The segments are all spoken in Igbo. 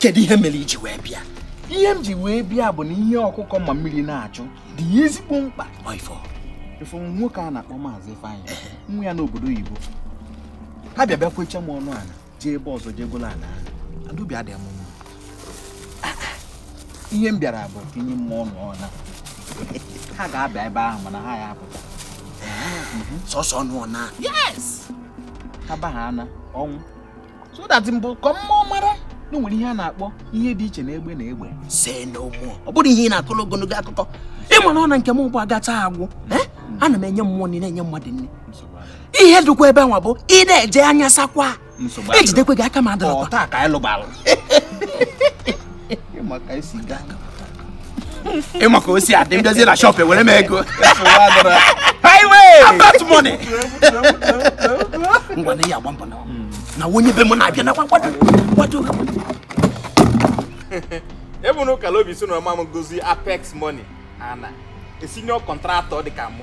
kedu ihe mere i ji wee bịa ihe m ji wee bịa bụ na ihe ọkụkọ ma mmiri na-achụ dị ya ezigbo mkpa ofu nwoke a na-akpọ maazị Ifeanyị nwa ya nọ obodo oyibo ha bịa bịa kwecha m ọnụ ala jee ebe ọzọ jee gola ala ahụ obi adịghị m mma ah, ah. ihe m bịara bụ ka enye m ọnụ ọla ha ga-abịa ebe ahụ mana ha ya apụta sọsọ ọnụ ọna yes ha ba ha ana ọnwụ so that mbụ ka mma mara na enwere ihe a na-akpọ ihe dị iche na egbe na egbe se na ụmụ ọ bụrụ ihe ị na-akọrọ ogologo akụkọ ị ma na ọ na nke m ụgbọ agacha agwụ eh? ana m enye mmụọ nni na-enye mmadụ nni ihe dịkwa ebe nwa bụ ị na-eje anya sakwa ejidekwe gị aka ma adịrọkwa ị ma ka o si adị m bịazie na shop ewere m ego about money ngwa na ihe agba mbọ na na onye be m na-abịa na kwado kwado ebe na ụkala obi so na ọma m gozi apex money a na-esi enye contractor dị ka mụ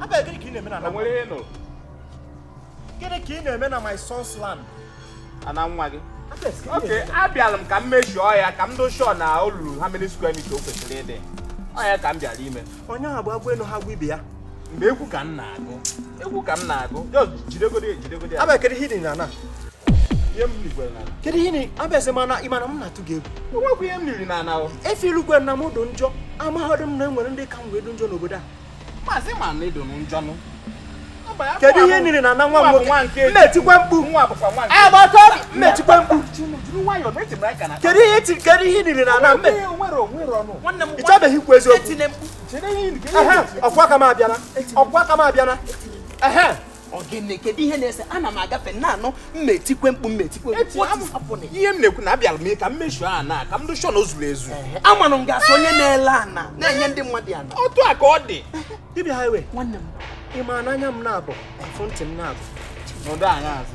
Abịa gịnị ka ị na-eme na ana nwa m? Onwere ihe nụrụ. Gịnị ka ị na-eme na my son's land? Ana nwa gị. Okay, abịara m ka m measure ya ka m dụ sure na o luru how many square meter o kwesịrị ịdị. Ọ ya ka m bịara ime. Onye ahụ bụ agwa elu ha gwa ibe ya. Mgbe egwu ka m na-agụ. Egwu ka m na-agụ. Just jidegodi ya jidegodi ya. Abịa kedu ihe i niri na ana? Ihe m rigwere na. Kedu ihe ị na- abịa sị mana ị ma na m na-atụ gị egwu. Onwekwa ihe m niri na ana o. Efi ilugwe na m dụ njọ amaghọdụ m na enwere ndị ka m wee dụ njọ n'obodo a. maazị ma na ị dụ njọ nụ kedu ihe i niri na ana nwa m nwoke m ma-etikwa mkpu m ma-etikwa mkpu kedu ihe ti kedu ihe i niri na ana mme ịchọbeghị ikwu eziokwu ọkwa aka m abịala ọkwa aka m abịala Ọ gịnị kedu ihe na-ese ana m agafe na-anụ m ma-etikwe mkpu m ma-etikwe ihe m na-ekwu na abịara m ka m measure ana ka m dụ sure na o zuru ezu amanụ m ga-asị onye na-ele ana na-enye ndị mmadụ ana otu a ka ọ dị dibịa highway nwanne m ị ma na anya m naabọ afụ ntị m naabọ nọdụ anya azụ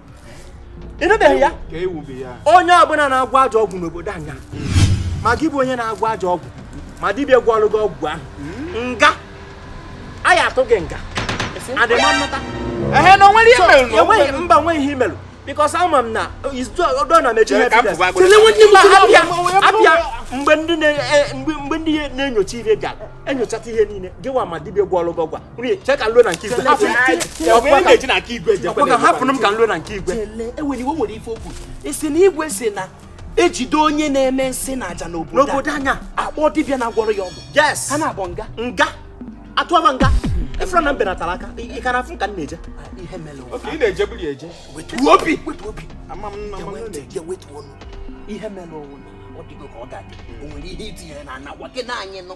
ịnụbeghị ya onye ọbụla na-agwọ ajọ ọgwụ n'obodo anyị a ma gị bụ onye na-agwọ ajọ ọgwụ ma dibịa gwọọlụ gị ọgwụ ahụ nga a ya atụ gị nga adịma mmata ehe na onwere ihe m mere enweghị mba onwe ihe i melu because ama m na ọdọ na mechi ihe abịa mgbe ndị na-enyocha ihe ga enyochata ihe niile gịwa ma dibịa gwọọlụ gị ọgwụ a chee ka nlo na nke igwe hapụrụ m ka nlo na nke igwe enwere iwe nwere ife okwu ị sị na igwe sị na e jide onye na-eme nsi na aja n'obodo anyị a kpọọ dibịa na-agwọrọ ya ọgwụ ha naabọ nga nga a tụba nga efere na mbe natara aka ị ka na-afụ ka m na-eje ị na-eje bụrụ eje wetuo obi ihe mere ọnwụ ọ dịgo ka ọ ga-adị o nwere ihe i tinyere n'ana gwa gị na anyị nụ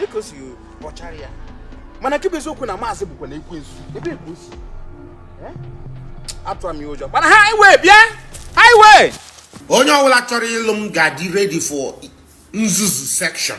dịka o si kpọchara ya mana nke bụ eziokwu na maazị bụkwanụ ekwensu ebe ka o si eh? atụra m ya ụjọ mana however however onye ọbụla chọrọ ịlụ m ga-adị ready for nzuzu section